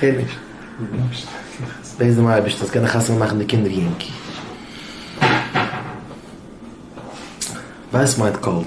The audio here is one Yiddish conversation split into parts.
כ'הער נישט. בעט דעם אייבערשטן זאלסט קענען חתונה מאכן די קינדער יונג. ווייס מיינט קאלט.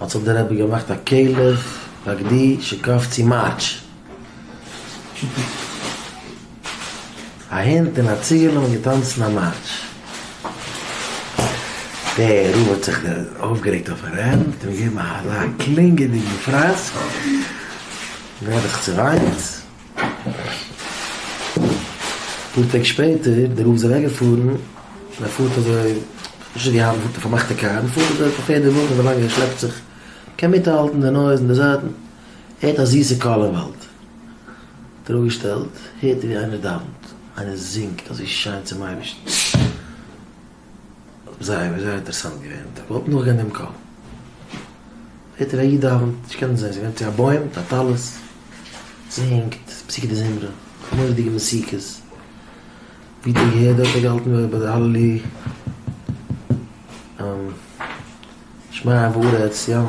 האט זיך דער רבי געמאכט א כלב בגדי שקף צו מארטש. א הונט און א ציגעלע האבן געטאנצן א מארטש. דער רב האט זיך אויפגערעגט אויפן רבי און אים געגעבן אזא קלינגעדיגן פראסק. דער רבי האט זיך צעוויינט. אפאר טעג שפעטער די רב איז אוועק געפארן און ער פארט אזוי נישט געהאט די פארמאכטע קאר און פארט אזוי פאר פערדע וואגן אזוי לאנג ער שלעפט זיך קען מיטהאלטן די נויז אין די זייטן הערט א זיסע קול אין וואלד האט ער אפגעשטעלט הערט ער ווי איינער דאווענט איינער זינגט אזוי שיין צום אייבערשטן. זייער זייער אינטערעסאנט געווען, איך וואלט נאכגעהערט דעם קול. הערט איר א איד דאווענט, נישט קענען זען, זיי ווענדט צו א בוים מיט א טלית, זינגט פסוקי דזמרה, מורא'דיגע מוזיקעס, ווי די געהערט דארט האט געהאלטן ביי די הללי שמיה וארץ ים.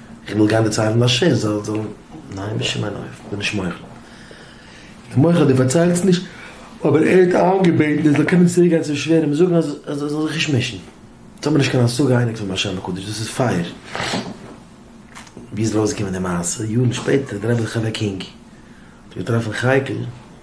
איך וויל גיין דערציילן ביי ש ס, זאל זאל, ניין בשום אין אופן, כ'בין נישט מוחל. איך בין מוחל אז דו פארציילסט נישט, אבער ער האט איינגעבעטן איך זאל קומען צוריק גיין צום שווער און זאגן אז אז ער זאל זיך נישט מישן. יעצט האבן מיר נישט קיין השגה אייניג פון באר שבע קודש, דאס איז פייער. ווי איז ארויסגעקומען די מעשה? יארן שפעטער, דער רבי חי וקינג האט געטראפן חייקל,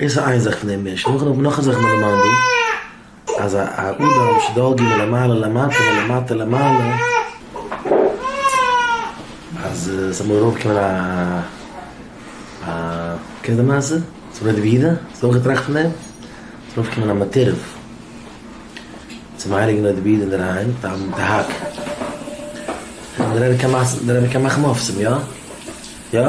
דאס איז איין זאך פון דעם משל, נאכדעם האט מען נאך א זאך אין די למדו, אז א אדם שדאגה מלמעלה למטה מלמטה למעלה, אז עס זאל אמאל ארויפקומען א א, קענסט די מעשה? ס'איז בלויז די בגידה? האסט אויך געטראכט פון דעם? ס'זאל ארויפקומען א מטורף צום הייליגן אוהב די בגידה אינדערהיים, די א די הק', דער רבי קען מאכן אויף צו אים, יא? יא?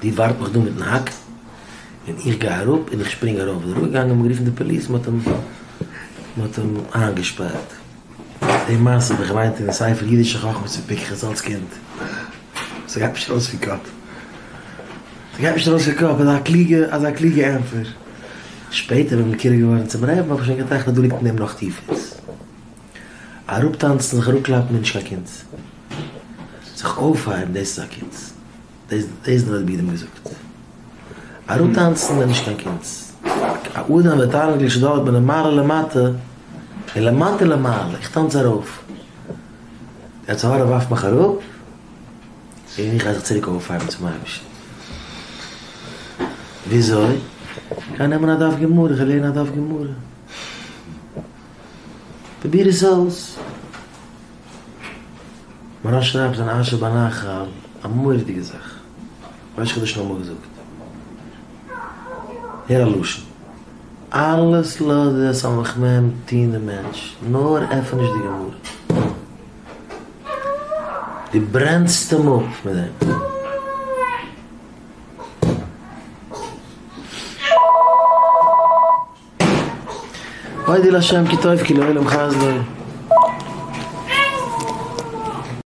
די ווארט מיך דא מיטן האק און איך גיי אראפ און איך שפרינג ארויף איז ער אראפגעגאנגען מ'האט גערופן די פאליס מ'האט אים מ'האט אים איינגעשפארט די מעשה האב איך געליינט אין ספר אידישע חכמות פון פיקחות אלץ קינד ס'גייט נישט ארויס פון קאפ ס'גייט נישט ארויס פון קאפ אזא קלוגע אזא קלוגע ענטפער שפעטער ווען מ'איז קרוב געווארן צום רעב האב איך שוין געטראכט אז דא ליגט אין אים נאך טיפערס. אראפטאנצן, זיך אראפקלאפן איז נישט קיין קונץ. זיך אויפהייבן דאס איז א קונץ. דאס דאס האט רבי גדעון געזאגט. אראפטאנצן איז נישט קיין קונץ. א אדם ותענוג לשדוד בין למעלה למטה, און למטה למעלה, איך טאנץ ארויף. דער יצר הרע ווארפט מיך אראפ, און איך גיי זיך צוריק אויפהייבן צום אייבערשטן. וויאזוי? איך גיי נעמען א דף גמרא, איך גיי לערנען א דף גמרא. די ביר איז זאלץ. מרן שרייבט זיין אשר בנחל א מורא'דיגע זאך, ראש חודש נאמאן געזאגט, הער א לשון, אלעס לאז די סמך מ טון די מענטש, נאר עפן נישט די גמרא, דו ברענסט אים אפ מיט דעם. אודה לשם כי טוב כי לעולם חסדו.